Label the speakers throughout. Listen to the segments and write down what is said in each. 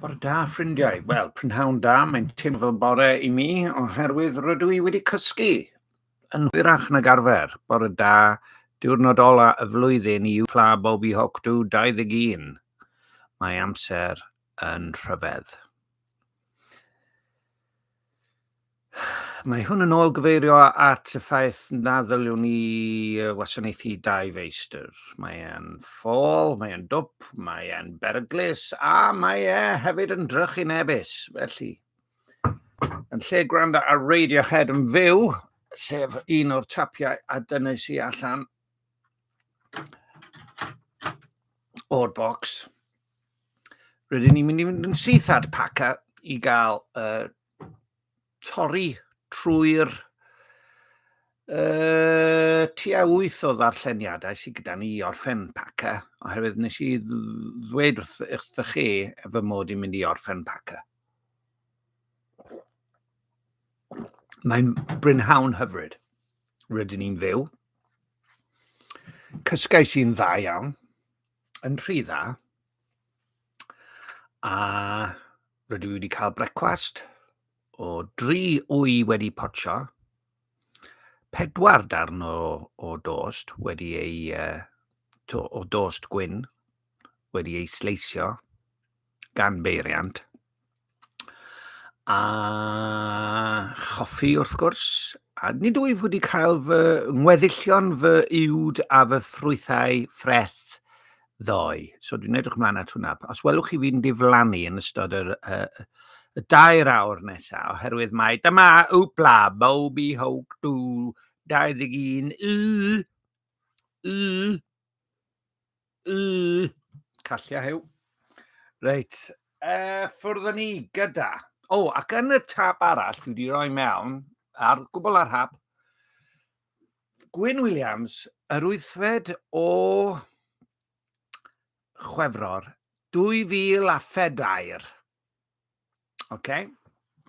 Speaker 1: Bore da, ffrindiau. Wel, prynhawn da, mae'n teimlo fel bore i mi, oherwydd rydw i wedi cysgu yn hwyrach nag arfer. Bore da, diwrnod ola y flwyddyn i Pla Bobi Hocdu 21. Mae amser yn rhyfedd. Mae hwn yn ôl gyfeirio at y ffaith na ddyliwn ni wasanaethu dau feistr. Mae e'n ffôl, mae e'n dwp, mae e'n beryglus a mae e hefyd yn drychinebus. Felly, yn lle gwrando ar Radiohead yn fyw, sef un o'r tapiau a dynais i allan o'r bocs, rydyn ni'n mynd i fynd yn syth at Paca i gael uh, torri trwy'r uh, tua wyth o ddarlleniadau sydd gyda ni i orffen Paca, oherwydd nes i ddweud wrth, wrth chi fy mod i'n mynd i orffen Paca. Mae'n brynhawn hyfryd. Rydyn ni'n fyw. Cysgais i'n dda iawn. yn rhy dda. A rydw i wedi cael brecwast o dri wy wedi potsio, pedwar darn o, o dost wedi ei, uh, to, o dost gwyn wedi ei sleisio gan beiriant, A choffi wrth gwrs, a nid wyf wedi cael fy ngweddillion fy uwd a fy ffrwythau ffres ddoe. So dwi'n edrych ymlaen at hwnna. Os welwch chi fi'n diflannu yn ystod yr, uh, y dair awr nesaf, oherwydd mae dyma wpla, Bobby Hawk 2, 21, y, y, Yy, callia hew. Reit, uh, ffwrdd ni gyda. O, oh, ac yn y tab arall, dwi wedi rhoi mewn, ar gwbl ar hap, Gwyn Williams, yr wythfed o Chwefror 2004. Oce, okay.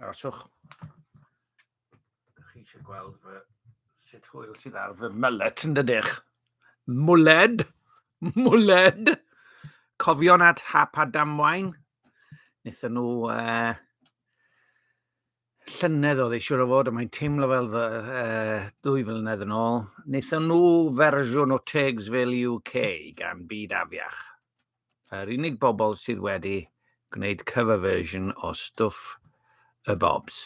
Speaker 1: aroswch. Chi eisiau gweld fy sut hwyl sydd ar fy mylet yn dydych. Mwled, mwled. Cofion at hap a damwain. Nethon nhw uh, llynedd oedd eisiau o fod, a mae'n teimlo fel dda, uh, dwy flynedd yn ôl. Nethon nhw fersiwn o Tegs fel UK gan byd afiach. Yr unig bobl sydd wedi gwneud cover version o stwff y Bobs.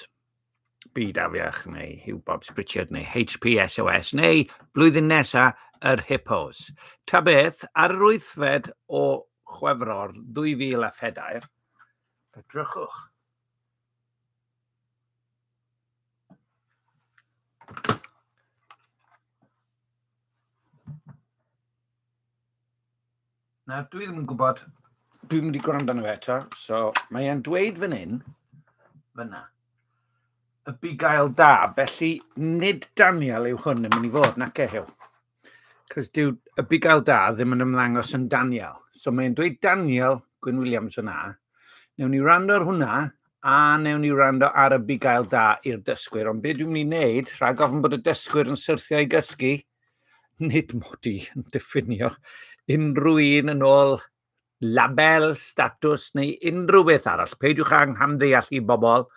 Speaker 1: Byd Afiach neu Hugh Bobs Pritchard neu HPSOS neu blwyddyn nesa yr Hippos. Ta beth, ar yr wythfed o Chwefror 2004, edrychwch. Na, dwi ddim yn gwybod. Dwi'n mynd i gwrando arno fe eto. So, mae e'n dweud fan hyn, fyna, y bugail da. Felly, nid Daniel yw hwn yn mynd i fod, nac e hiw. Cos dyw y bugail da ddim yn ymlangos yn Daniel. So, mae'n dweud Daniel Gwyn Williams yna. Newn ni rando ar hwnna, a newn ni rando ar y bugail da i'r dysgwyr. Ond beth dwi'n mynd i wneud, rhag ofn bod y dysgwyr yn syrthio i gysgu, Nid mod i yn diffinio unrhyw un yn ôl label, statws neu unrhyw beth arall. Peidiwch â nghamddeall i bobl.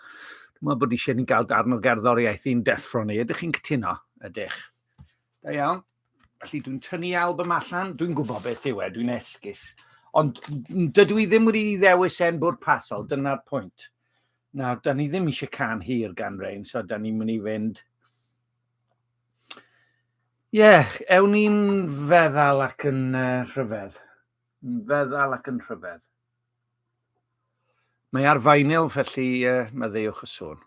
Speaker 1: Dwi'n meddwl bod eisiau ni gael darn o gerddoriaeth i'n deffro ni. Ydych chi'n cytuno? Ydych. Da iawn. Felly dwi'n tynnu album allan, dwi'n gwybod beth yw e, dwi'n esgus. Ond dydw i ddim wedi ddewis e'n bwrpasol, dyna'r pwynt. Nawr, da ni ddim eisiau can hir gan Rein, so da ni'n mynd i fynd Ie, yeah, ewn ni'n feddal ac yn uh, rhyfedd. Yn feddal ac yn rhyfedd. Mae ar faenil, felly uh, maddeuwch y sôn.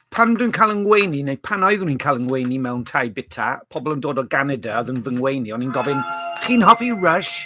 Speaker 1: Pan dwi'n cael yng ngweini, neu pan oeddwn i'n cael yng ngweini mewn tai bita, pobl yn dod o Ganada oedd yn fy ngweini, o'n i'n gofyn, chi'n hoffi Rush?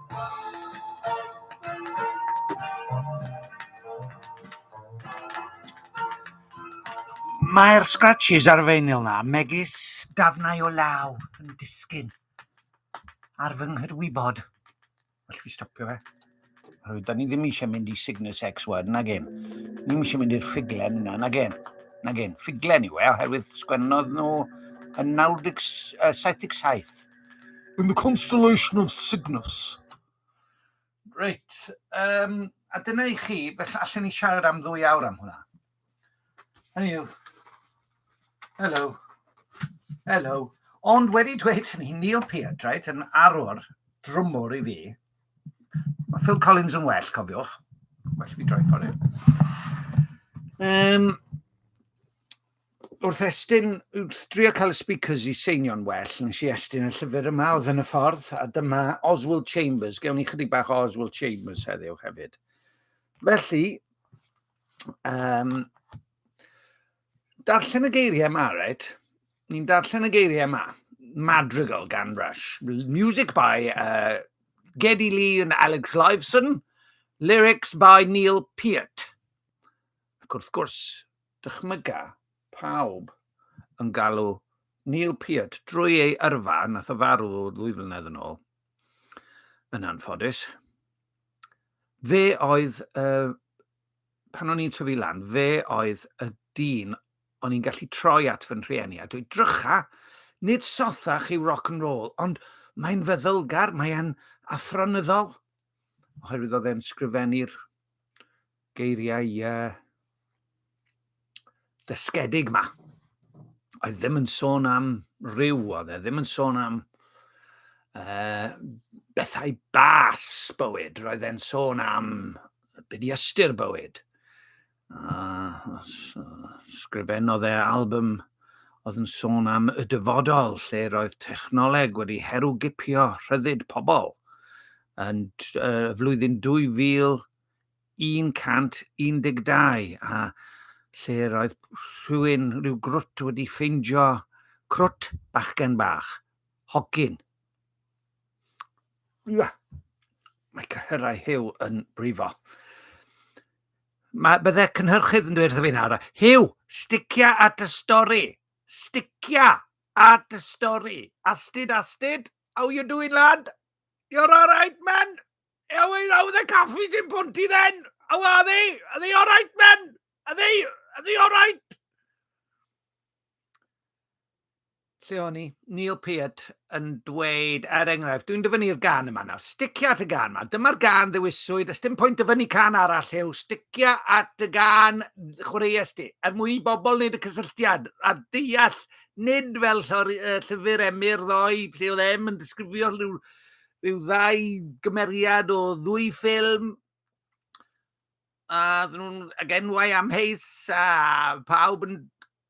Speaker 1: Mae'r scratches ar y feinyl 'na, megis dafnau o law yn disgyn ar fy nghydwybod. Felly fi stopio fe. Oherwydd, da ni ddim eisiau mynd i Cygnus X1, na gen. Ni eisiau mynd i'r ffuglen yna, na gen. Na gen, ffuglen yw e, oherwydd sgwennodd nhw yn 97. In the Constellation of Cygnus. Reit, um, a dyna i chi, felly allan ni siarad am ddwy awr am hwnna. Hynny yw, hello, hello. Ond wedi dweud hynny, Neil Peart, right, yn arwr drwmwr i fi. Mae Phil Collins yn well, cofiwch. Well fi droi ffordd. Um, wrth estyn, wrth drio cael y speakers i seinio'n well, nes i estyn y llyfr yma oedd yn y ffordd, a dyma Oswald Chambers. Gewn ni chydig bach o Oswald Chambers heddiw hefyd. Felly, um, darllen y geiriau yma, right? Ni'n darllen y geiriau yma. Madrigal gan Rush. Music by uh, Geddy Lee and Alex Liveson. Lyrics by Neil Peart. Ac wrth gwrs, dychmyga pawb yn galw Neil Peart drwy ei yrfa, nath o farw ddwy flynedd yn ôl, yn anffodus. Fe oedd, uh, pan o'n i'n tyfu lan, fe oedd y dyn o'n i'n gallu troi at fy rhieni a dweud, drycha, nid sothach yw rock and roll, ond mae'n feddylgar, mae'n athronyddol, oherwydd oedd e'n sgrifennu'r geiriau uh, ddysgedig ma. A ddim yn sôn am rhyw, oedd e ddim yn sôn am uh, bethau bas bywyd. Roedd e'n sôn am byd i ystyr bywyd. Uh, sgrifennodd e album oedd yn sôn am y dyfodol lle roedd technoleg wedi herwgipio rhyddid pobl. yn y flwyddyn 2112 a lle roedd rhywun, rhyw grwt wedi ffeindio crwt bachgen bach, hogyn. Ia, mae cyhyrau Hugh yn brifo. Mae bydde cynhyrchydd yn dweud wrtho fi nawr, Hugh, sticia at y stori, sticia at y stori. Astid, astid, how you doing lad? You're alright, man? How, how are the caffies in Ponty then? How are they? Are they alright, man? Are they, are they alright? Lle o'n i? Neil Peart yn dweud, er enghraifft, dwi'n dyfynu'r gan yma nawr, sticia at y gan yma, dyma'r gan ddewiswyd, ys dim pwynt dyfynu can arall yw, sticia at y gan chwaraeus di, er mwyn i bobl wneud y cysylltiad a deall nid fel llori, uh, llyfr emyr ddoe, lle oedd em yn disgrifio rhyw, rhyw ddau gymeriad o ddwy ffilm, a ddyn nhw'n ag enwau am heis, a pawb yn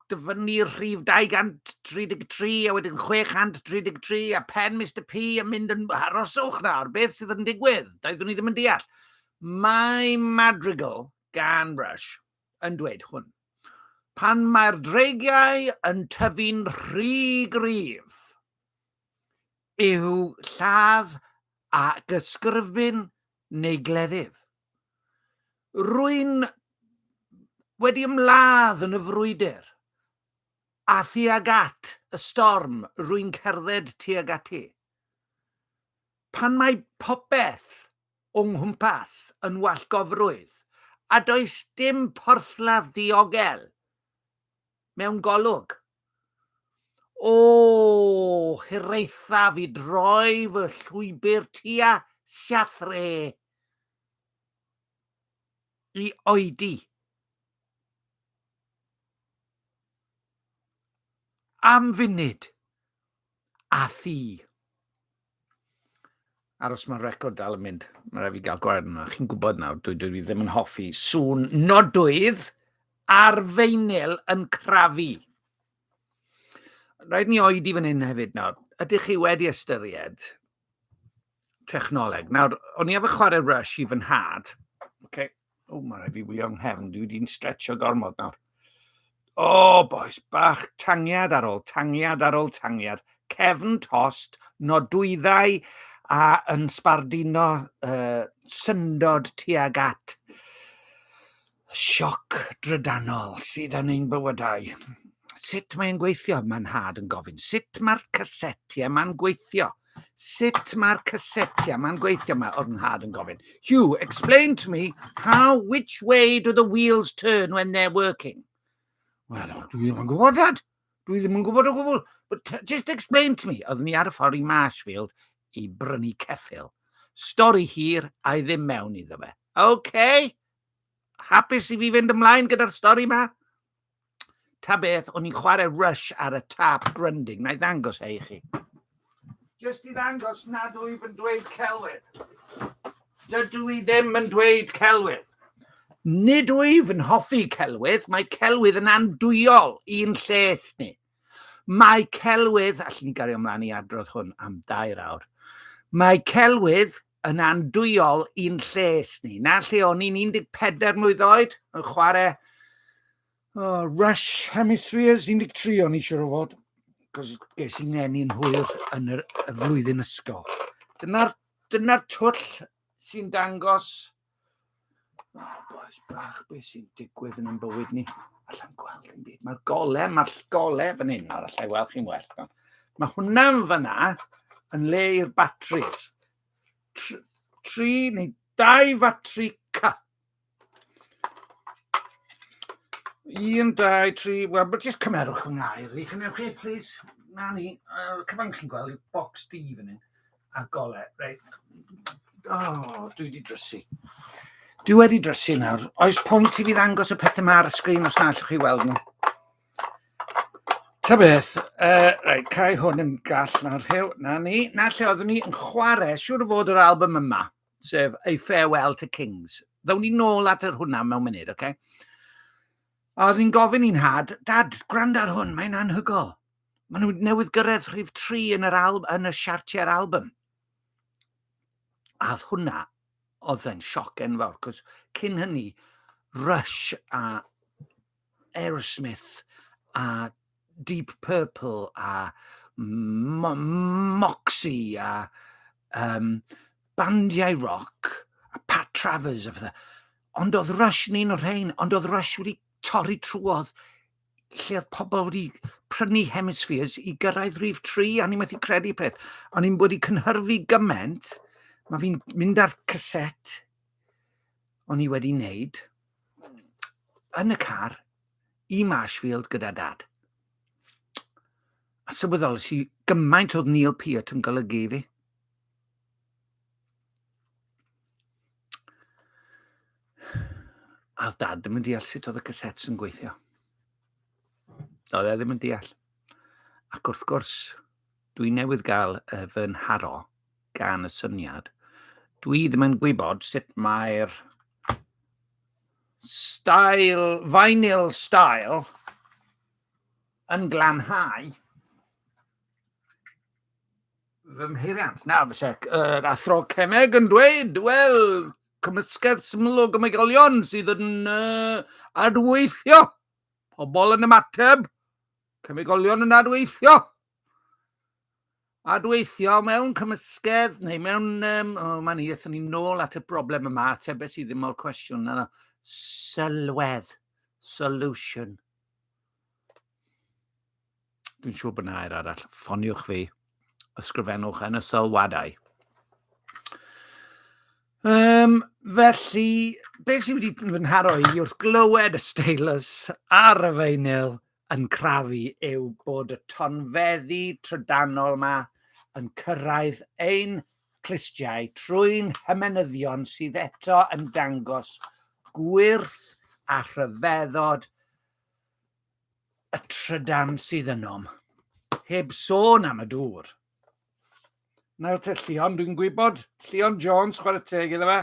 Speaker 1: dyfynnu rhif 233 a wedyn 633 a pen Mr P yn mynd yn aroswch nawr, beth sydd yn digwydd? Doeddwn ni ddim yn deall. Mae Madrigal gan Rush yn dweud hwn. Pan mae'r dreigiau yn tyfu'n rhy gryf, yw lladd a gysgrifbyn neu gleddyf. Rwy'n wedi ymladd yn y frwydr, a thuag at y storm rwy'n cerdded tuag ati. Pan mae popeth o nghwmpas yn wallgofrwydd, a does dim porthladd ddiogel mewn golwg. O, hiraethaf i droi fy llwybr tua siathre i oedi. Am funud. A thi. Aros mae'r record dal yn mynd. Mae rhaid fi gael gwair yna. Chi'n gwybod nawr, dwi, dwi ddim yn hoffi sŵn nodwydd ar feinyl yn crafu. Rhaid ni oedi fan hyn hefyd nawr. Ydych chi wedi ystyried technoleg. Nawr, o'n i efo chwarae Rush i fy nhad. Okay. O, oh, mae rhaid fi wylio nghefn. Dwi wedi'n stretcho gormod nawr. O, oh, boes bach, tangiad ar ôl tangiad ar ôl tangiad. Cefn tost, nodwyddau a yn sbardino uh, syndod tuag at Sioc drydanol sydd yn ein bywydau. Sut mae'n gweithio? Mae nhad yn gofyn. Sut mae'r caseti yma'n gweithio? Sut mae'r caseti yma'n gweithio? Mae oedd nhad yn gofyn. Hugh, explain to me how, which way do the wheels turn when they're working? Wel, dwi ddim yn gwybod, Dad. Dwi ddim yn gwybod o gwbl. But just explain to me. Oeddwn ni ar y ffordd i Marshfield i brynu ceffil. Stori hir, a i ddim mewn iddo fe. OK, hapus i fi fynd ymlaen gyda'r stori ma. Ta beth, o'n i'n chwarae Rush ar y tap grinding. Na i ddangos hei chi. Just i ddangos nad wyf yn dweud celwydd. Dydw i ddim yn dweud celwydd. Nid wyf yn hoffi celwydd, mae celwydd yn andwyol i'n lles ni. Mae celwydd, allwn ni gario ymlaen i adrodd hwn am dair awr, mae celwydd yn andwyol i'n lles ni. Na lle o'n i'n 14 mlwydd oed yn chwarae oh, Rush Hemispheres 13 o'n i eisiau o fod, cos ges i'n ngenu'n hwyr yn yr, y flwyddyn ysgol. Dyna'r dyna twll sy'n dangos Oh, boys bach, beth sy'n digwydd yn ein bywyd ni? Alla i'n gweld yn byd. Mae'r gole, mae'r gole fan hyn nawr, alla i weld chi'n well. Iawn. Mae hwnna'n fyna yn le i'r batris. Tr tri neu dau fatri ca. Un, dau, tri, wel, but just cymerwch fy ngair i, chynewch chi, please. Na ni, uh, cyfan chi'n gweld, box D fan hyn. a golau. Reit. Oh, dwi wedi drysu. Dwi wedi drysu nawr. Oes pwynt i fi ddangos y pethau yma ar y sgrin os na allwch chi weld nhw? Ta beth, uh, rhaid cael hwn yn gall nawr rhyw. Na ni, na lle oeddwn ni yn chwarae, siwr o fod yr album yma, sef A Farewell to Kings. Ddawn ni nôl at yr hwnna mewn munud, oce? Okay? A oeddwn ni'n gofyn i'n had, dad, gwrando ar hwn, mae'n anhygol. Maen nhw newydd gyrraedd rhif 3 yn yr alb, yn y siartiau'r album. A hwnna oedd e'n sioc enfawr, cos cyn hynny, Rush a Aerosmith a Deep Purple a Moxie a um, bandiau rock a Pat Travers a pethau. Ond oedd Rush yn un o'r rhain, ond oedd Rush wedi torri trwodd lle oedd pobl wedi prynu hemispheres i gyrraedd rhif 3, a ni'n methu credu peth. O'n i'n wedi cynhyrfu gymaint, mae fi'n mynd ar caset o'n i wedi wneud yn y car i Marshfield gyda dad. A sylweddol, si gymaint oedd Neil Peart yn golygu i fi. A oedd dad ddim yn deall sut oedd y cassettes yn gweithio. Oedd e ddim yn deall. Ac wrth gwrs, dwi newydd gael y fy nharo gan y syniad. Dwi ddim yn gwybod sut mae'r style, vinyl style yn glanhau fy mheiriant. Na, fy sec, yr athro Cemeg yn dweud, wel, cymysgedd syml o gymegolion sydd yn uh, adweithio. Pobl yn ymateb, cymegolion yn adweithio. Adweithio mewn cymysgedd neu mewn... Um, o, oh, mae'n hir, ni'n nôl at y broblem yma, atebau sydd ddim o'r cwestiwn yna. Sylwedd, solution. Dwi'n siŵr bod nair arall. Ffoniwch fi. Ysgrifennwch yn y sylwadau. Um, felly, beth sydd wedi fy nharo i wrth glywed y steilus ar y feinyl yn crafu yw bod y tonfeddi trydanol yma yn cyrraedd ein clustiau trwy'n hymenyddion sydd eto yn dangos gwyrth a rhyfeddod y trydan sydd ynom. Heb sôn am y dŵr. Nawr te Llion, dwi'n gwybod, Llion Jones, chwarae teg iddo fe.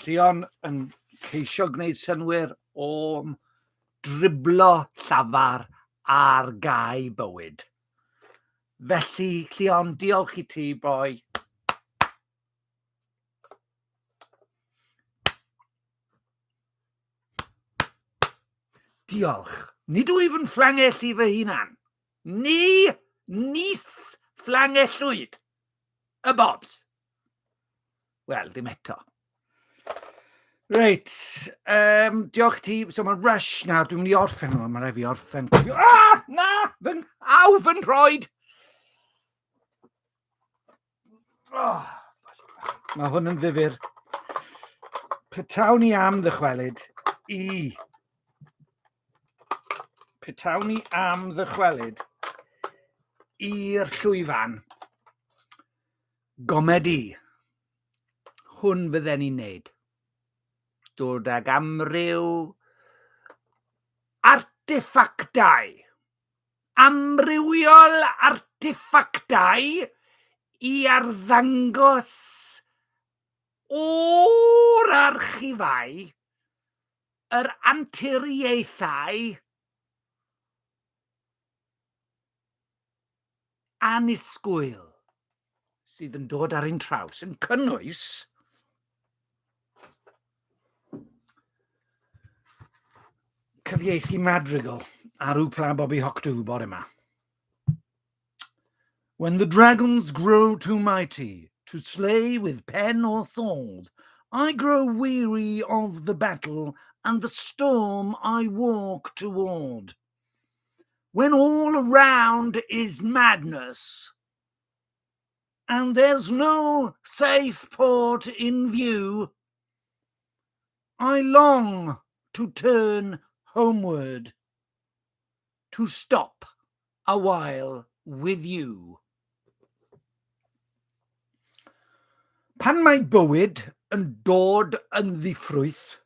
Speaker 1: Llion yn ceisio gwneud synwyr o'm driblo llafar ar gau bywyd. Felly, Llion, diolch i ti, boi. Diolch. Nid wyf yn fflangell i fy hunan. Ni nis fflangellwyd y bobs. Wel, ddim eto. Reit, um, diolch ti. So mae'n rush nawr, dwi'n mynd i orffen nhw, mae'n rhaid fi orffen. Ah, na, fy nghaw fy nhroed! Oh, mae hwn yn ddifur. Petawn i am ddychwelyd i... Petawn i am ddychwelyd i'r llwyfan gomedi. Hwn fydden ni'n neud. Dod ag amryw arteffactau amrywiol arteffactau i arddangos o'r archifau, yr anturiaethau, annisgwyl sydd yn dod ar ein traws, yn cynnwys cyfieithu Madrigal ar Upla Bobby Hoctu bore yma. When the dragons grow too mighty to slay with pen or sword, I grow weary of the battle and the storm I walk toward. When all around is madness and there's no safe port in view, I long to turn homeward, to stop a while with you. Pan mae bywyd yn dod yn ddiffrwyth,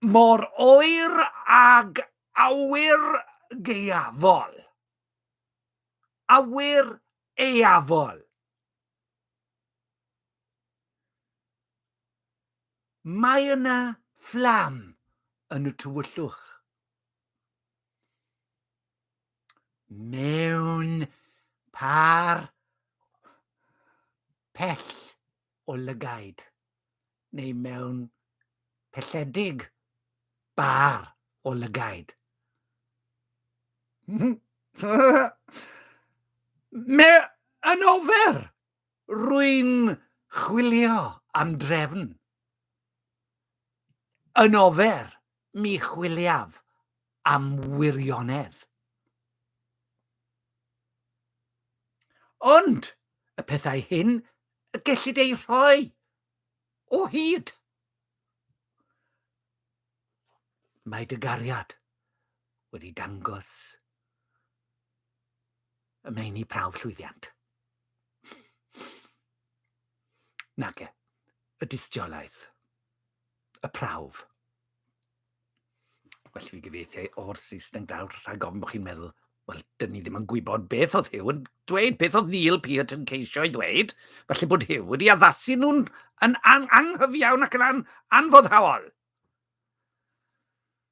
Speaker 1: Mor oer ag awyr gaeafol. Awyr aeafol. Mae yna fflam yn y tywyllwch. Mewn par pell o lygaid neu mewn pelledig bar o lygaid. Me yn ofer! Rwy'n chwilio am drefn. Yn ofer! Mi chwiliaf am wirionedd. Ond y pethau hyn y gellid eu rhoi o hyd. Mae dy gariad wedi dangos y meini prawf llwyddiant. Nage, y dystiolaeth. y prawf. Well fi gyfeithiau o'r Saesneg nawr rhag ofn bod chi'n meddwl, wel, dyn ni ddim yn gwybod beth oedd Hugh yn dweud, beth oedd Neil Peart yn ceisio ei ddweud, felly bod Hugh wedi addasu nhw'n an, an, anghyfiawn ac yn an, anfoddhaol.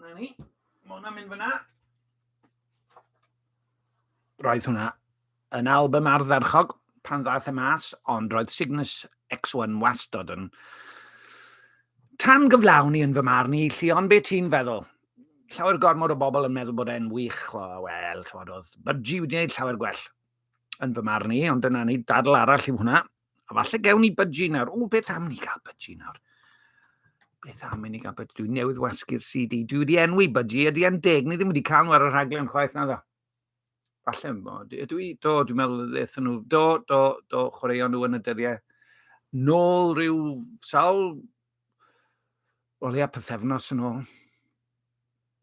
Speaker 1: Na ni. Mae hwnna'n mynd fyna. Roedd hwnna yn album ardderchog pan ddaeth y e mas, ond roedd Cygnus X1 wastod yn tan gyflawn i yn fy marn i, Llion, be ti'n feddwl? Llawer gormod o bobl yn meddwl bod e'n wych, o, wel, tywod, oedd Budgie wedi gwneud llawer gwell yn fy marn i, ond dyna ni, dadl arall i hwnna. A falle gewn ni budgie nawr. O, beth am ni gael budgie nawr? Beth am i ni gael budgie? Dwi'n newydd wasgu'r CD. Dwi wedi enwi budgie. Ydy e'n deg? Ni ddim wedi cael nhw ar y rhaglen chwaith na dda. Falle yn bod. Ydw i? Do, dwi'n meddwl ddeth nhw. Do, do, do, chwaraeon nhw yn y dyddiau. Nôl rhyw sawl... O leia pethefnos yn ôl.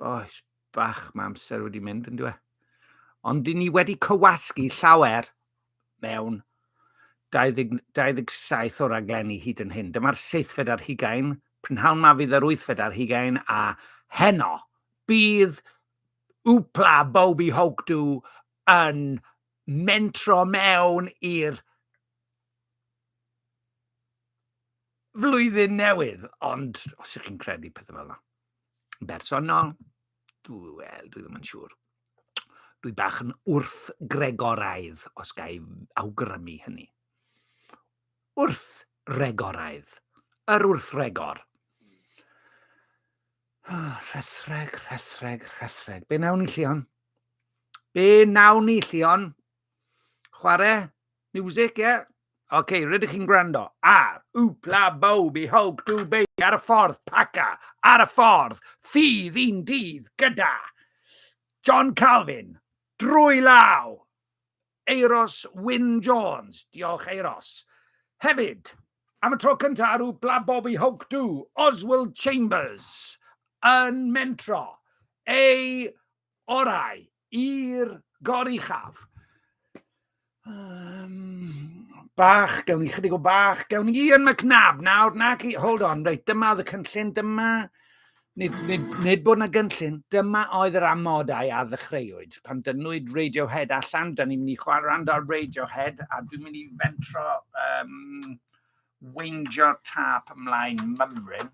Speaker 1: Boes, bach mae amser wedi mynd yn dweud. Ond dyn ni wedi cywasgu llawer mewn 20, 27 o raglenni hyd yn hyn. Dyma'r seithfed ar hugain, prynhawn ma fydd yr wythfed ar hugain, a heno bydd Upla Bobby Hogdu yn mentro mewn i'r flwyddyn newydd, ond os ych chi'n credu pethau fel yna. bersonol, dwi, wel, dwi ddim yn siŵr. Dwi bach yn wrth gregoraidd, os ga i awgrymu hynny. Wrth regoraidd. Yr wrth regor. Oh, rhethreg, rhethreg, rhethreg. Be nawn ni, Llion? Be nawn ni, Llion? Chwarae? Music, ie? Yeah? Oce, okay, rydych chi'n gwrando ar Wpla Bowbi Hawk Du Baby ar y ffordd, Paca ar y ffordd, ffydd un dydd gyda John Calvin, drwy law, Eiros Wyn Jones, diolch Eiros. Hefyd, am y tro cyntaf ar Wpla Bowbi Hawk Du, Oswald Chambers yn mentro ei orau I'r goruchaf. Um, bach, gawn ni chydig o bach, gawn ni Ian McNab nawr, na chi, hold on, reit, dyma oedd y cynllun, dyma, nid, nid, nid bod yna gynllun, dyma oedd yr amodau a ddechreuwyd. Pan dynwyd Radiohead allan, da ni'n mynd i chwarae rand ar Radiohead, a dwi'n mynd i fentro um, weingio'r tap ymlaen mymryn.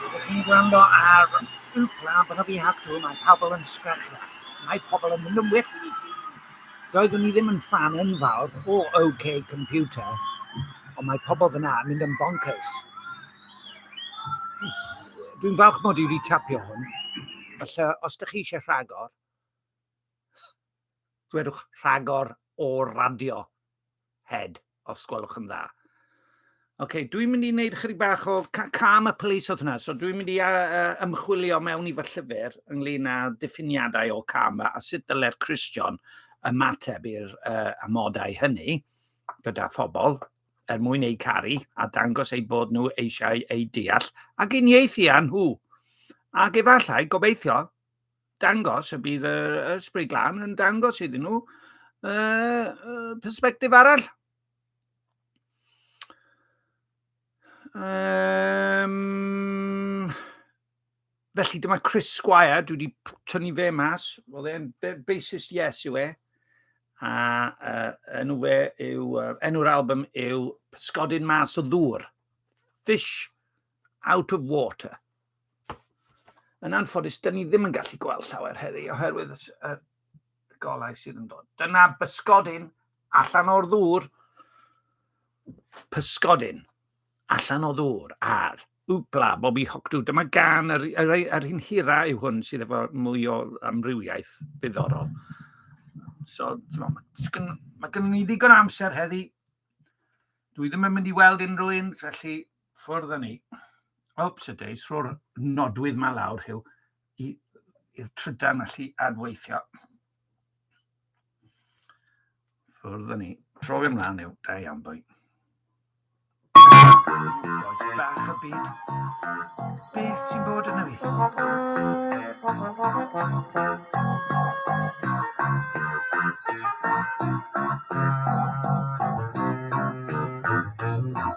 Speaker 1: Rydych chi'n gwrando ar Uwclaf Rygbi Hactŵ, mae pobl yn sgrechian, mae pobl yn mynd yn wyllt. Doeddwn i ddim yn ffan enfawr o OK Computer, ond mae pobl fyna yn mynd yn bonkers. Dwi'n falch mod i wedi tapio hwn. Felly, os ydych chi eisiau rhagor, ddwedwch rhagor o radio head, os gwelwch yn dda. Oce, okay, dwi'n mynd i wneud chydig bach o cam y police oedd hwnna, so dwi'n mynd i uh, ymchwilio mewn i fy llyfr ynglyn â diffiniadau o cam a sut dylai'r Christian ymateb i'r uh, amodau hynny gyda phobl er mwyn eu caru a dangos eu bod nhw eisiau eu deall ac uniaethu â nhw. Ac efallai, gobeithio, dangos, y bydd y Ysbryd Glân yn dangos iddyn nhw uh, perspektif arall. Um, felly dyma Chris Squire, dwi wedi tynnu fe mas, oedd e'n bassist yes yw e, a uh, enw fe yw, uh, enw'r album yw Pysgodyn Mas o Ddŵr, Fish out of water. Yn anffodus, dyn ni ddim yn gallu gweld llawer heddi oherwydd y golau sydd yn dod. Dyna bysgodyn allan o'r ddŵr. Pysgodyn allan o ddŵr ar Wgla, Bobby Hogdw. Dyma gan yr, yr, yr hyn hira yw hwn sydd efo mwy o amrywiaeth ddiddorol. So, mae gen i ddigon amser heddi. Dwi ddim yn mynd i weld unrhyw un, felly Ffordd â ni. Oops a days, rho'r nodwydd ma lawr, Huw, i'r trydan allu adweithio. Ffordd â ni. Tro fi ymlaen yw, da iawn boi. Oes bach y byd. Beth sy'n bod yna fi?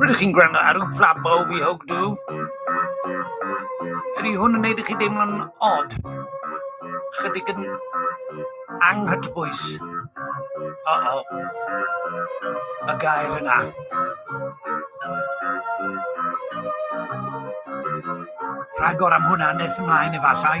Speaker 1: Rydych chi'n gwrando ar y Plabo We Hope Do. Ydy hwn yn neud i chi deimlo'n od? Chydig yn anghytbwys. O o. Y gair yna. Rhagor am hwnna nes ymlaen efallai.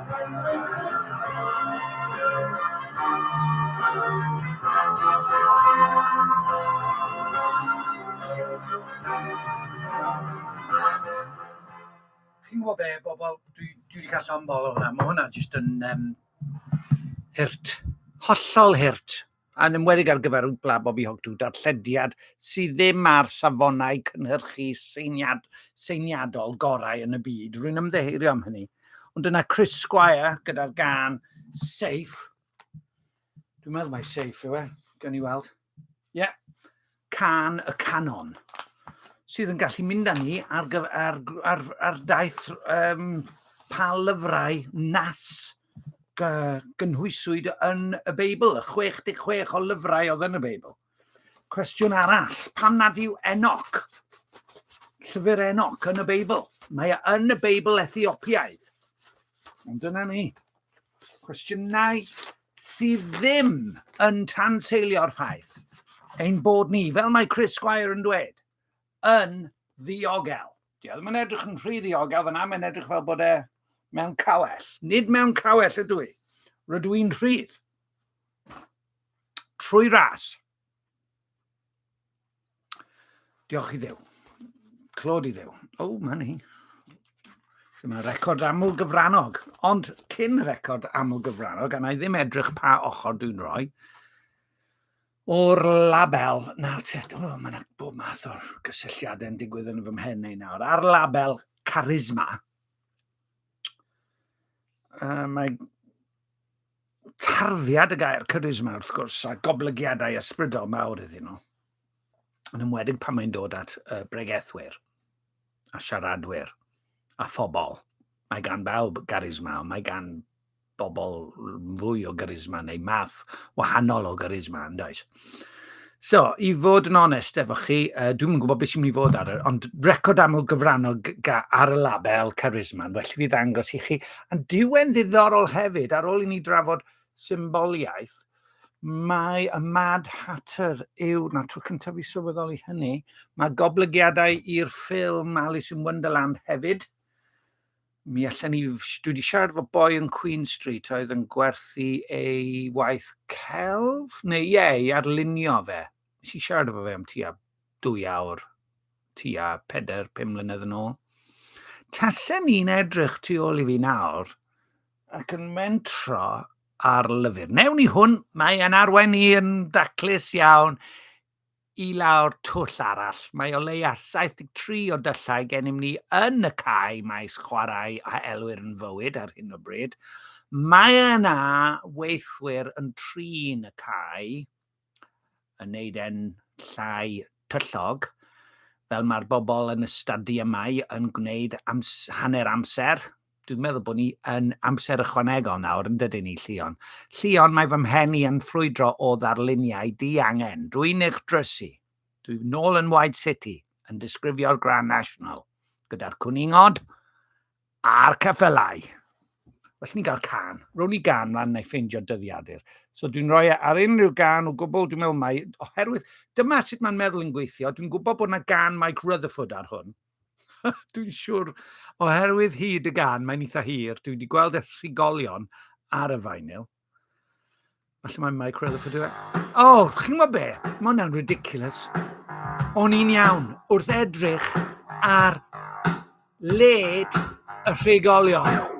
Speaker 1: Chi'n gwybod be bobl, dwi, dwi wedi cael llond bol o hwnna. Mae hwnna jyst yn um, hurt. Hollol hurt. Yn enwedig ar gyfer Wpla Bobi Hogtu, darllediad sydd ddim ar safonau cynhyrchu seiniad, seiniadol gorau yn y byd. Rwy'n ymddeheurio am hynny. Ond dyna Chris Squire gyda'r gan Safe. Dwi'n meddwl mai Safe yw e, gan i weld. Ie. Yeah. Cân y Canon, sydd yn gallu mynd â ni ar, ar, ar, ar daith um, pa lyfrau nas gynhwyswyd yn y Beibl, y 66 o lyfrau oedd yn y Beibl. Cwestiwn arall, pam nad yw Enoch, llyfr Enoch yn y Beibl? Mae e yn y Beibl Ethiopiaidd. Ond dyna ni. Cwestiynau sydd ddim yn tanseilio'r ffaith ein bod ni, fel mae Chris Squire yn dweud, yn ddiogel. Di ddim yn edrych yn rhy ddiogel fyna, mae'n edrych fel bod e mewn cawell. Nid mewn cawell ydw i. Rydw i'n rhydd. Trwy ras. Diolch i ddew. Clod i ddew. O, oh, mae ni. Dyma record aml gyfrannog. Ond cyn record aml gyfrannog, a na i ddim edrych pa ochr dwi'n rhoi, o'r label, na, tet, o, oh, mae'n bob math o'r gysylltiadau yn digwydd yn fy mhen ei nawr, ar label Charisma, uh, mae tarddiad y gair charisma wrth gwrs, a goblygiadau ysbrydol mawr iddyn nhw, yn ymwedig pan mae'n dod at uh, bregethwyr a siaradwyr a phobl. Mae gan bawb garisma, ond mae gan bobl fwy o garisma neu math wahanol o garisma yn does. So, i fod yn onest efo chi, uh, dwi'n gwybod beth sy'n mynd i fod ar y, ond record aml gyfrannol ar y label Charisma, yn well i fi ddangos i chi. Yn diwen ddiddorol hefyd, ar ôl i ni drafod symboliaeth, mae y Mad Hatter yw, na tro cyntaf i sylweddoli hynny, mae goblygiadau i'r ffilm Alice in Wonderland hefyd. Mi allan ni, dwi wedi siarad efo boi yn Queen Street oedd yn gwerthu ei waith celf, neu ie, yeah, i arlunio fe. Nes i siarad efo fe am tua dwy awr, tua 4-5 mlynedd yn ôl. Tasen ni'n edrych tu ôl i fi nawr ac yn mentro ar lyfr. Newn ni hwn, mae yn arwain ni yn daclus iawn I lawr twll arall, mae o leia 73 o dyllau gennym ni yn y cae maes chwarae a elwir yn fywyd ar hyn o bryd. Mae yna weithwyr yn trin y cae, yn neud e'n llai tyllog, fel mae'r bobl yn y stadiymau yn gwneud ams hanner amser, dwi'n meddwl bod ni yn amser ychwanegol nawr yn dydyn ni, Llion. Llion, mae fy mhen i yn ffrwydro o ddarluniau di angen. Dwi'n eich drysu. Dwi'n nôl yn White City, yn disgrifio'r Grand National, gyda'r cwningod a'r ceffylau. Felly ni'n cael can. Rown i gan lan neu ffeindio dyddiadur. So dwi'n rhoi e ar unrhyw gan o gwbl, dwi'n meddwl mai, oherwydd dyma sut mae'n meddwl yn gweithio, dwi'n gwybod bod yna gan Mike Rutherford ar hwn, Dwi'n siŵr, oherwydd hyd y gan, mae'n eitha hir. Dwi wedi gweld y rhigolion ar y vinyl. Felly mae'n Mike Rutherford yw e. O, oh, chi'n gwybod be? Mae hwnna'n ridiculous. O'n i'n iawn wrth edrych ar led y rhigolion.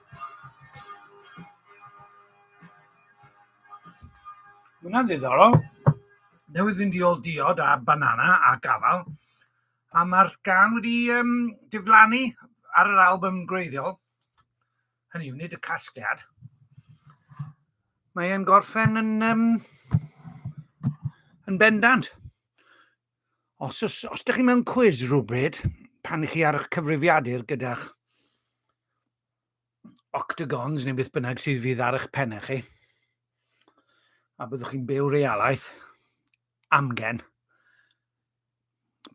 Speaker 1: Mae hwnna'n ddiddorol. Newydd fynd i ôl diod a banana a gafal. A mae'r gan wedi um, diflannu ar yr album gwreiddiol. Hynny yw, nid y casgliad. Mae'n gorffen yn, um, yn bendant. Os, os, os ydych chi mewn cwiz rhywbryd, pan ych chi ar eich cyfrifiadur gyda'ch octagons neu beth bynnag sydd fydd ar eich pennau chi, a byddwch chi'n byw realaeth amgen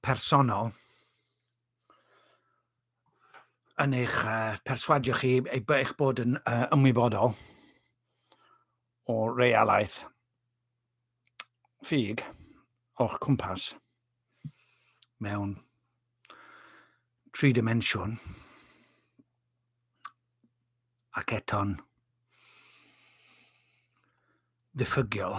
Speaker 1: personol yn eich uh, perswadio chi eich bod yn uh, ymwybodol o realaeth ffug o'ch cwmpas mewn tri dimensiwn ac eto'n ddiffygiol.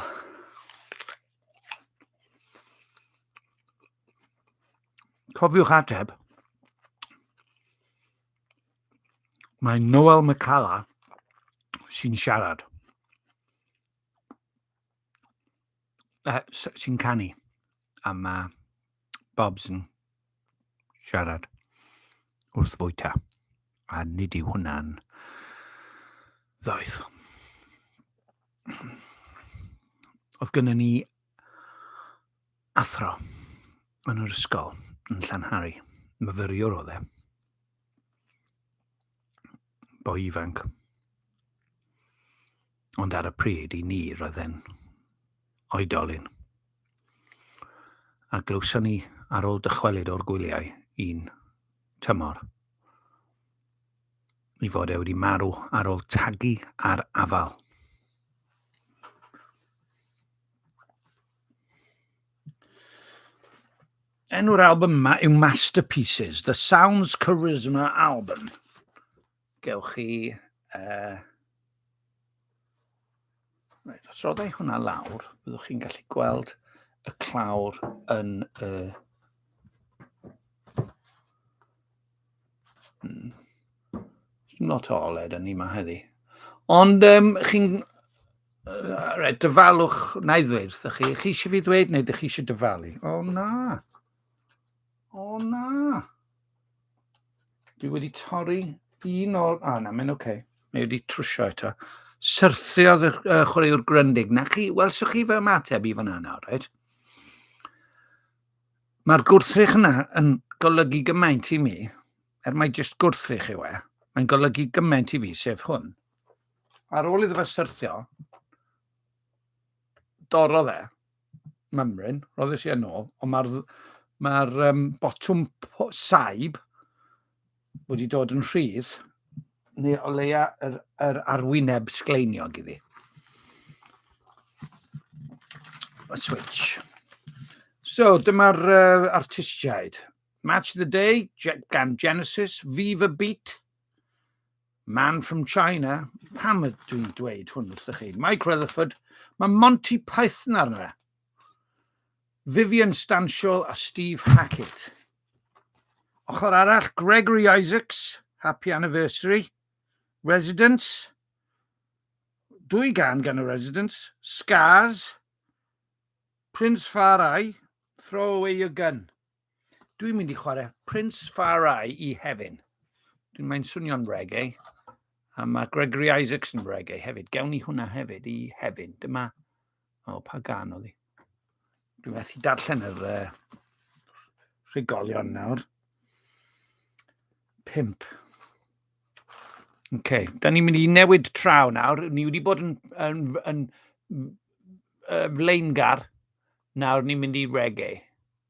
Speaker 1: Cofiwch ateb. Mae Noel McCalla sy'n siarad. uh, sy'n canu a mae Bobs yn siarad wrth fwyta a nid yw hwnna'n ddoeth. Oedd gynnu ni athro yn yr ysgol yn Llanhari. Myfyriwr oedd e. Boi ifanc. Ond ar y pryd i ni roedd e'n oedolyn. A glywson ni ar ôl dychwelyd o'r gwyliau un tymor i fod e wedi marw ar ôl tagu ar afal. Enw'r album yma yw Masterpieces, The Sounds Charisma Album. Gewch chi... Uh... Reit, os roddau hwnna lawr, byddwch chi'n gallu gweld y clawr yn y... Hmm. Not all ed yn ni yma heddi. Ond um, chi'n... Uh, right, dyfalwch, na i ddweud wrthych chi, chi eisiau fi ddweud neu ydych chi eisiau dyfalu? O na! O na! Dwi wedi torri un o'r... A na, mae'n oce. Okay. Mae wedi trwsio eto. Syrthiodd y uh, chwaraewr gryndig. Na chi, wel, so chi fe ymateb i fanna nawr, right? Mae'r gwrthrych yna yn golygu gymaint i mi, er mae jyst gwrthrych yw e, mae'n golygu gymaint i fi, sef hwn. Ar ôl iddo fe syrthio, dorodd e, mymryn, roeddais i yn ôl, ond mae'r ma um, botwm saib wedi dod yn rhydd, neu o leia yr, yr arwyneb sgleiniog iddi. A switch. So, dyma'r uh, artistiaid. Match the Day gan Genesis, Viva Beat, Man from China, pam ydw dwi'n dweud hwn wrthych chi? Mike Rutherford, mae Monty Python arno fe. Vivian Stanshall a Steve Hackett. Ochr arall, Gregory Isaacs, Happy Anniversary, Residents, dwy gan gan y Residents, Scars, Prince Farai, Throw Away Your Gun. Dwi'n mynd i chwarae Prince Far I i Hefin. Dwi'n mynd swnio'n reggae. A mae Gregory Isaacs yn reggae hefyd. Gewn ni hwnna hefyd i Hefin. Dyma... O, pa gan oedd hi? Dwi'n methu darllen yr uh, rhigolion nawr. Pimp. Oce, okay. da ni'n mynd i newid traw nawr. Ni wedi bod yn, yn, yn, yn uh, flaengar. Nawr ni'n mynd i reggae.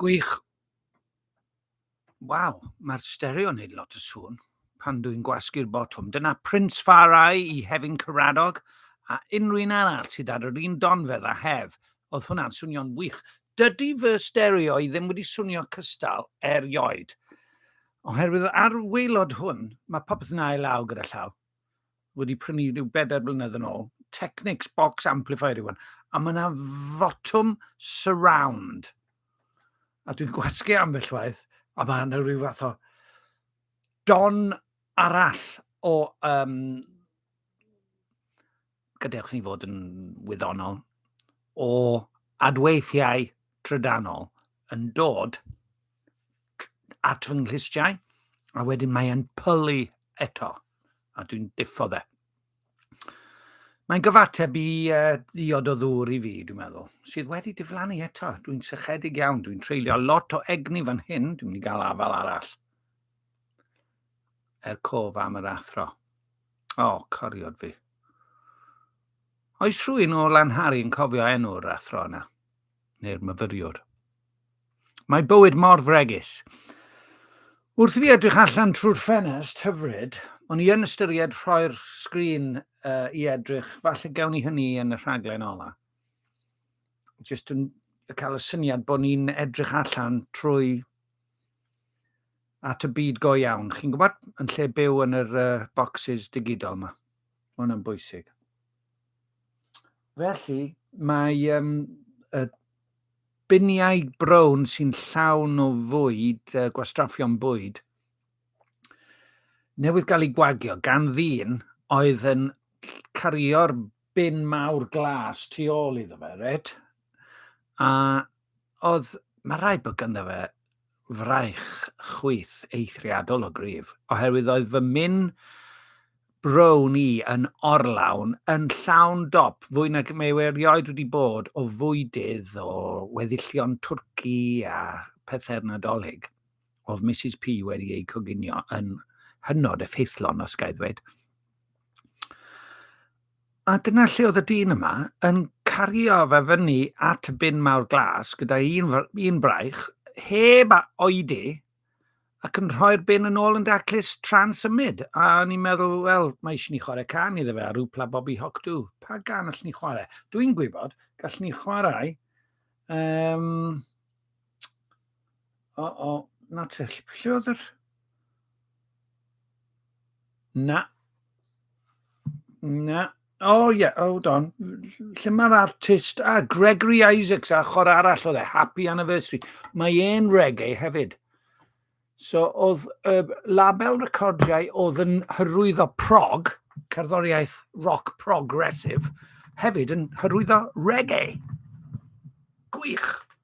Speaker 1: Gwych. Waw, mae'r stereo yn neud lot o sŵn pan dwi'n gwasgu'r botwm. Dyna Prince Far Eye i Hefin Caradog a unrhyw un arall sydd ar yr un donfedd a Hef. Oedd hwnna'n swnio'n wych. Dydy fy stereo i ddim wedi swnio cystal erioed. Oherwydd ar waelod hwn, mae popeth yn ail law gyda llaw. wedi prynu rhyw bedair blynedd yn ôl. Technics box amplifier yw hwn. A mae yna fotwm surround. A dwi'n gwasgu ambell waith, a mae yna rhyw fath o don arall o um, gadewch ni fod yn wyddonol, o adweithiau trydanol yn dod at fy nghlustiau, a wedyn mae'n pylu eto, a dwi'n diffo fe. Mae'n gyfateb i uh, ddiod o ddŵr i fi, dwi'n meddwl, sydd wedi diflannu eto. Dwi'n sychedig iawn, dwi'n treulio lot o egni fan hyn, dwi'n mynd i gael afal arall. Er cof am yr athro. O, oh, coriod fi. Oes rhywun o Lanhari yn cofio enw'r athro yna? Neu'r myfyriwr? Mae bywyd mor fregus. Wrth i fi edrych allan trwy'r ffenest hyfryd, o'n i yn ystyried rhoi'r sgrin uh, i edrych, falle gawn ni hynny yn y rhaglen ola. Just yn cael y syniad bod ni'n edrych allan trwy at y byd go iawn. Chi'n gwybod, yn lle byw yn yr uh, boxes digidol yma. Mae hwnna'n bwysig. Felly, mae um, y biniau brown sy'n llawn o fwyd, uh, gwastraffion bwyd, newydd gael ei gwagio gan ddyn oedd yn cario'r bin mawr glas tu ôl iddo fe, red? A Oedd, mae rhaid bod ganddo fe fraich chwith eithriadol o gryf, oherwydd oedd fy min brown i yn orlawn, yn llawn dop, fwy nag mae e erioed wedi bod o fwydydd, o weddillion twrci a pethau'r Nadolig. Oedd Misus P wedi eu coginio yn hynod effeithlon, os ga i ddweud. A dyna lle oedd y dyn yma yn cario fe fyny at y bin mawr glas gyda un, un braich, heb a oedi, ac yn rhoi'r bin yn ôl yn daclus tra'n symud. A o'n i'n meddwl, wel, mae eisiau ni chwarae can iddo fe, a rhyw pla Bobby Hawk dw. Pa gan allwn ni chwarae? Dwi'n gwybod, gallwn ni chwarae... Um, O, o, na te. Lle oedd yr... Na. Na. O, oh, ie, yeah, hold on. Lle mae'r artist? Ah, Gregory Isaacs, a chor arall oedd e, Happy Anniversary. Mae e'n reggae hefyd. So, oedd y uh, label recordiau oedd yn hyrwyddo prog, cerddoriaeth rock progressive, hefyd yn hyrwyddo reggae. Gwych.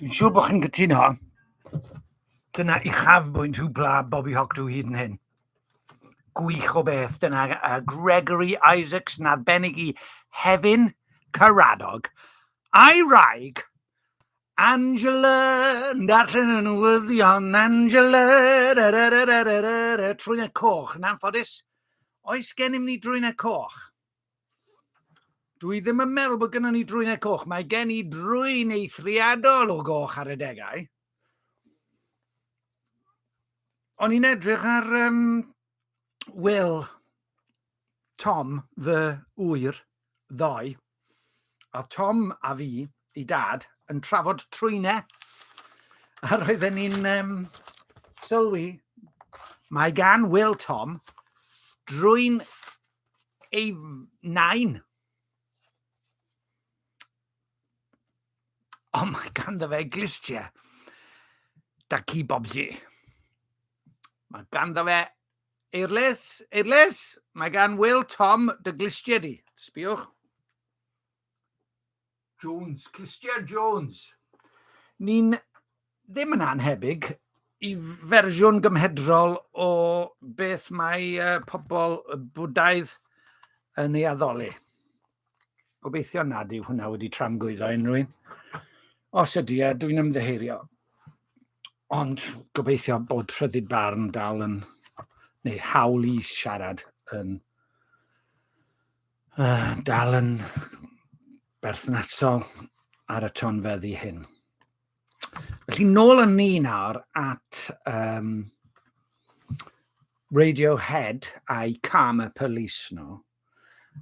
Speaker 1: Dwi'n siŵr bod chi'n cytuno. Dyna uchafbwynt hw bla Bobby Hawk dw hyd yn hyn. Gwych o beth. Dyna uh, Gregory Isaacs yn arbennig i Hefin Caradog. A'i raig, Angela, yn darllen yn newyddion, Angela, trwy'n coch, yn anffodus. Oes gennym ni drwynau coch? Dwi ddim yn meddwl bod gennym ni drwynau coch. Mae gen i drwyn eithriadol o goch ar y degau. O'n i'n edrych ar um, Will, Tom, fy ŵyr, ddoe, oedd Tom a fi, i dad, yn trafod trwynau, a roedden ni'n um, sylwi, mae gan Will Tom drwy'n ei nain. Ond mae ganddo fe glistiau da ci bobsi. Mae ganddo fe Eirlys, eirlys! Mae gan Wil Tom dy glustiau di. Sbiwch. Jones, clustiau Jones. Ni'n ddim yn anhebyg i fersiwn gymhedrol o beth mae uh, pobl Bwdaidd yn ei addoli. Gobeithio nad yw hwnna wedi tramgwyddo unrhyw un. Os ydy, a dwi'n ymddeheirio. Ond gobeithio bod rhyddid barn dal yn, neu hawl i siarad yn, uh, dal yn berthnasol ar y tonfeddi hyn. Felly, nôl â ni nawr at um, Radiohead a'i Karma Police nhw.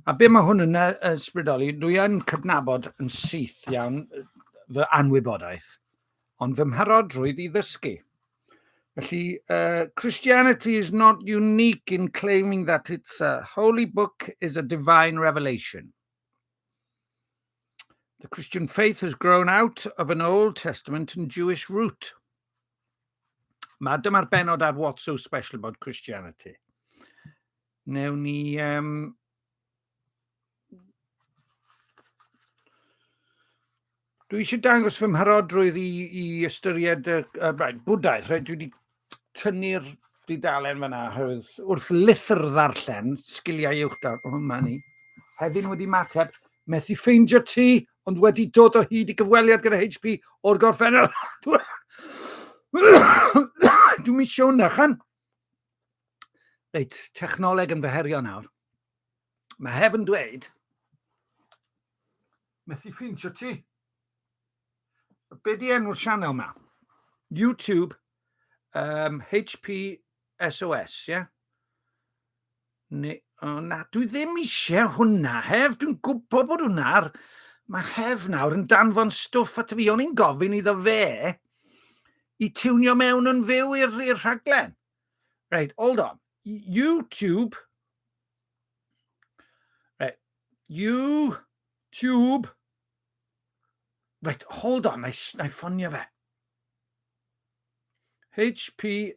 Speaker 1: A be mae hwn yn ysbrydoli, dwi yn cydnabod yn syth iawn fy anwybodaeth, ond fy mharodrwydd i ddysgu. Felly, uh, Christianity is not unique in claiming that it's a holy book is a divine revelation. The Christian faith has grown out of an Old Testament and Jewish root. Mae dyma'r benod ar What's So Special About Christianity. Newn ni... Um, dwi eisiau dangos fy mharodrwydd i, i ystyried y, y, y bwdaeth. Right? Dwi wedi tynnu'r dudalen fanna, oherwydd wrth lithr ddarllen, sgiliau uwch darllen, o, oh, ma ni. Hefyd wedi mateb, methu ffeindio ti, ond wedi dod o hyd i gyfweliad gyda HP o'r gorffennol. Dwi'n mi siwn na, chan. Reit, technoleg yn feherio nawr. Mae hefn dweud, methu ffeindio ti, Be di enw'r sianel ma? YouTube um, HPSOS, ie? Yeah? Ne, oh, na, dwi ddim eisiau hwnna, hef, dwi'n gwybod bod hwnna'r... Mae hef nawr yn danfon stwff at fi, o'n i'n gofyn iddo fe i tiwnio mewn yn fyw i'r rhaglen. Right, hold on. YouTube. Right, YouTube. Right, hold on, na i ffonio fe. HPSOS.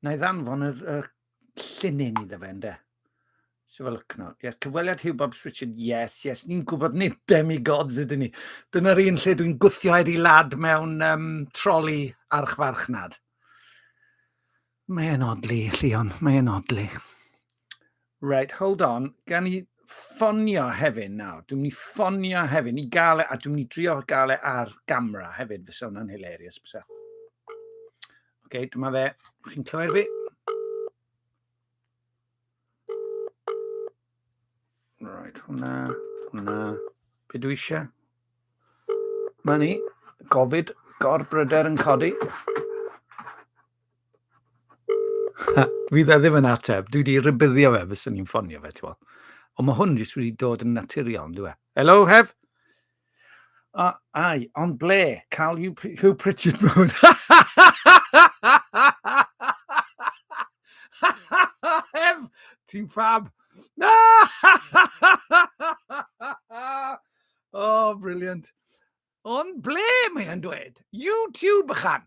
Speaker 1: Na i ddanfon yr, yr llinyn iddo fe, ynddo. So fel ycno. Yes, cyfweliad Hugh Bob Richard, yes, yes. Ni'n gwybod nid demigods ydyn ni. Dyna'r un lle dwi'n gwthio i lad mewn um, troli archfarchnad. Mae e'n odli, Llion, mae e'n odli. Right, hold on. Gan i ffonio hefyd nawr. Dwi'n mynd i ffonio hefyd i gael e, a dwi'n mynd i drio gael e ar gamera hefyd. Fysa hwnna'n hilarious, bysa. Oce, okay, dyma fe. Chi'n clywed fi? Right, hwnna, hwnna. Be dwi eisiau? Ma ni, gofid, gorbryder yn codi. Fi dda ddim yn ateb. Dwi wedi rybyddio fe, fes o'n i'n ffonio fe, ti'n Ond mae hwn jyst wedi dod yn naturiol, yn dwi e? Hello, Hef? O, ai, ond ble? Cael Hugh, Hugh Pritchard mewn. Ef, ti'n ffab. oh, brilliant. Ond ble mae'n dweud? YouTube ychan.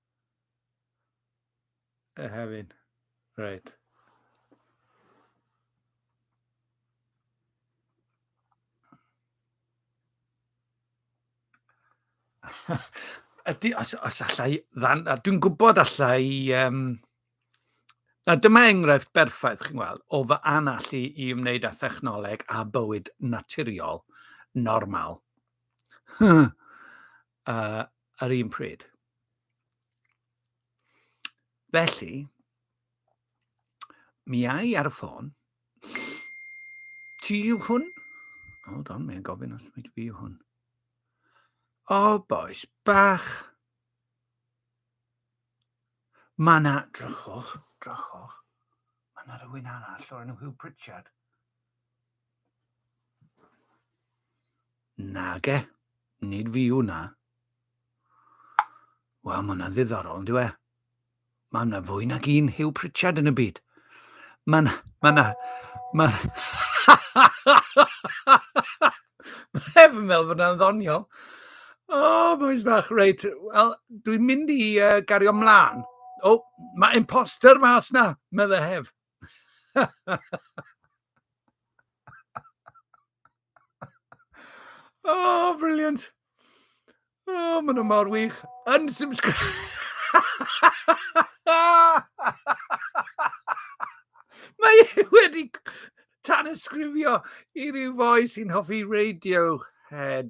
Speaker 1: A hefyd. Reit. Ydy, os, os allai, ddan, a dwi'n gwybod allai, um, na dyma enghraifft berffaith, chi'n gweld, o fy anallu i wneud â thechnoleg a bywyd naturiol normal. uh, ar un pryd. Felly, mi ai ar y ffôn, ti yw hwn? Hold on, mae'n gofyn os mae fi yw hwn. O, oh, boes bach. Mae na, drychwch, drychwch. Mae na rhywun arall o'r enw Hugh Pritchard. Nage, nid fi yw na. Wel, mae hwnna'n ddiddorol, ynddo e? Mae yna fwy nag un Hugh Pritchard yn y byd. Mae yna... Mae yna... Mae... Mae efo'n meddwl bod yna'n ddoniol. O, oh, boys bach, reit. Wel, dwi'n mynd i uh, gario mlaen. O, oh, mae imposter mas na, meddwl hef. oh, brilliant. Oh, maen nhw mor wych. Unsubscribe. Mae e wedi tan ysgrifio i ryw foi sy'n hoffi Radiohead.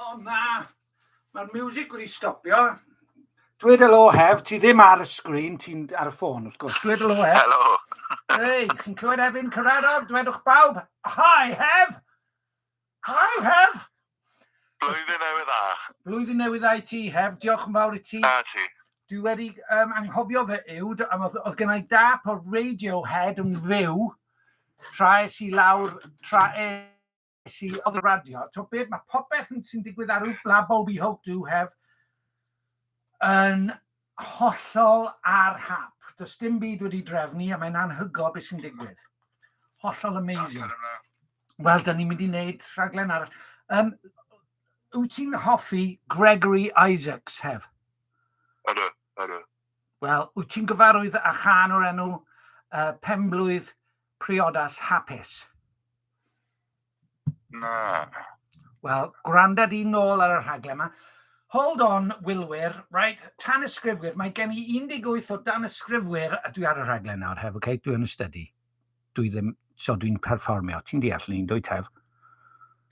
Speaker 1: O na! Mae'r miwsig wedi stopio. Dweud helo hef, ti ddim ar y sgrin, ti'n ar y ffôn wrth gwrs. Dweud helo hef. Helo! Hei, chi'n clywed Efin Cyrhaeddog? Dwedwch bawb, hi hef! Hi hef! Blwyddyn newydd dda. Blwyddyn newydd dda i ti, Hef. Diolch yn fawr i ti. A ti. Dwi wedi um, anghofio fe yw, oedd, oedd gennau dap o'r Radiohead yn fyw, tra es i lawr, tra es i oedd y radio. To beth, mae popeth sy'n digwydd ar yw Blabol We Hope Do Have yn Hollol ar hap. Does dim byd wedi drefnu i a mae'n anhygoel beth sy'n digwydd. Hollol amazing. Wel, da ni'n mynd i wneud rhaglen arall. Um, wyt ti'n hoffi Gregory Isaacs, hef? Ydw, ydw. Wel, wyt ti'n gyfarwydd â chan o'r enw uh, Penblwydd Priodas Hapus? Na. Wel, gwranda di nôl ar y rhaglen yma. Hold on, Wilwyr, right, tan ysgrifwyr, mae gen i 18 o dan ysgrifwyr a dwi ar y rhaglen nawr, hef, okay? dwi yn y study. Dwi ddim, so dwi'n perfformio. Ti'n deall ni'n dwy tef?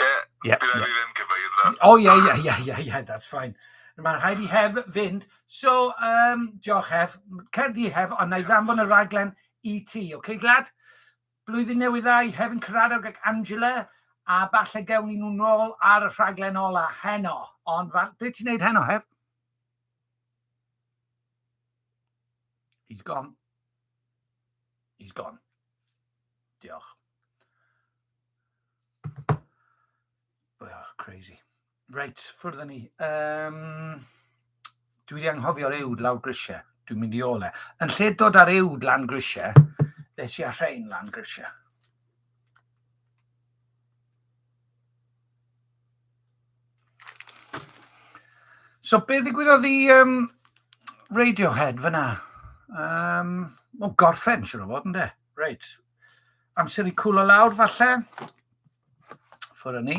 Speaker 1: Ie, yeah, bydd yeah. ddim cyfeir dda. O, ie, ie, ie, ie, ie, that's fine. Mae'n rhaid i hef fynd. So, um, diolch hef, cerdi hef, ond na i ddanfon y rhaglen i ti, okay, glad? Blwyddyn Newydd Dda i Hefin Caradog ac Angela, a falle gewn ni nhw nôl ar y rhaglen ola heno. Ond fa- be ti'n neud heno, Hef? He's gone. He's gone. Diolch. Oh, crazy. Reit, ffwrdd â ni. Um, dwi wedi anghofio'r ewd lawr grisiau. Dwi'n mynd i ôl e. Yn lle dod ar ewd lan grisiau, nes i a rhain lan grisiau. So be ddigwyddodd i um, Radiohead fyna? Um, o, gorffen, siwr o fod, ynddo? Reit. Amser i cwlo lawr, falle. Ffwrdd â ni.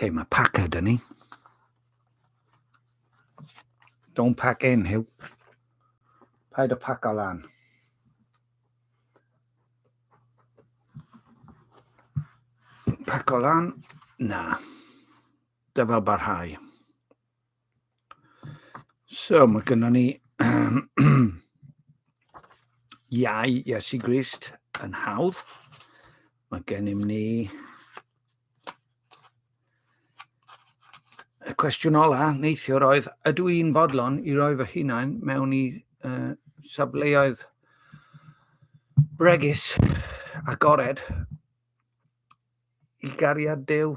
Speaker 1: Okay, mae packer dyn ni. Don't pack in, Hugh. Paid y pack o lan. Pack o lan? Na. Dyfel barhau. So, mae gennym ni iau Iesu Grist yn hawdd. Mae gennym ni y cwestiwn ola neithiwr oedd, ydw i'n fodlon i roi fy hunain mewn i uh, safleoedd bregus a gored i gariad Dyw?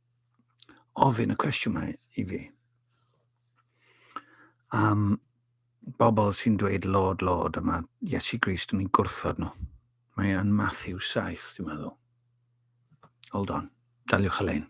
Speaker 1: ofyn y cwestiwn mae i fi. Am bobl sy'n dweud Lord, Lord, yma Iesu Grist yn ei gwrthod nhw. Mae yn Matthew 7, dwi'n meddwl. Hold on, daliwch y lein.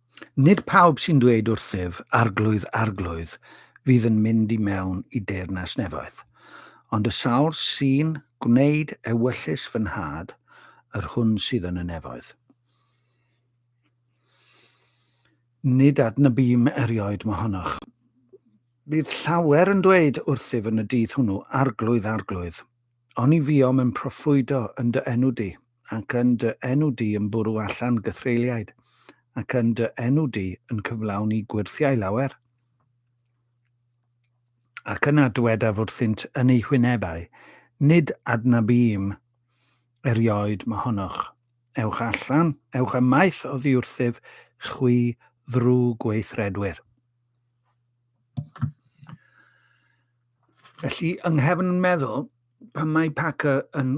Speaker 1: Nid pawb sy'n dweud wrthyf, 'Arglwydd, Arglwydd', fydd yn mynd i mewn i deyrnas nefoedd, ond y sawl sy'n gwneud ewyllys fy Nhad, yr hwn sydd yn y nefoedd. Nid adnabym erioed mohonoch. Bydd llawer yn dweud wrthyf yn y dydd hwnnw, 'Arglwydd, Arglwydd', oni fuom yn proffwydo yn dy enw di, ac yn dy enw di yn bwrw allan gythreuliaid, ac yn dy enw di yn cyflawni gwyrthiau lawer? Ac yna dywedaf wrthynt yn eu hwynebau, Nid adnabym erioed mohonoch. Ewch allan, ewch ymaith oddi wrthyf, chwi ddrwg gweithredwyr. Felly, yng nghefn yn meddwl, pan mae Packer yn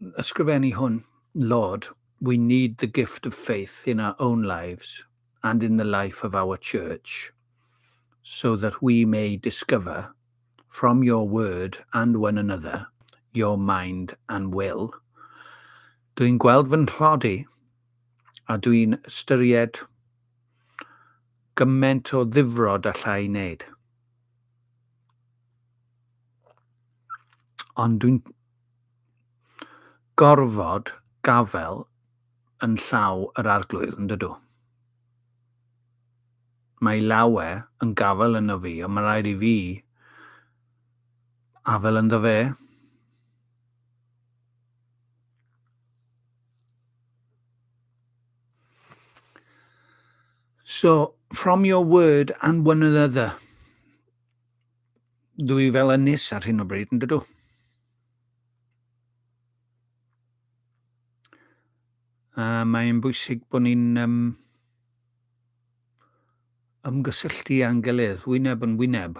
Speaker 1: ysgrifennu hwn, Lord, we need the gift of faith in our own lives and in the life of our church, so that we may discover, from your word and one another, your mind and will. Dwi'n gweld fy nhlodi, a dwi'n ystyried gyment o ddifrod allai wneud. Ond dwi'n gorfod gafel yn llaw yr Arglwydd, yn dydw? Mae lawe yn gafel yno fi, ond mae rhaid i fi afel ynddo fe. So, from your word and one another. dwy fel ynys ar hyn o bryd, yn dydw? A mae'n bwysig bod ni'n um, ymgysylltu â'n gilydd, wyneb yn wyneb.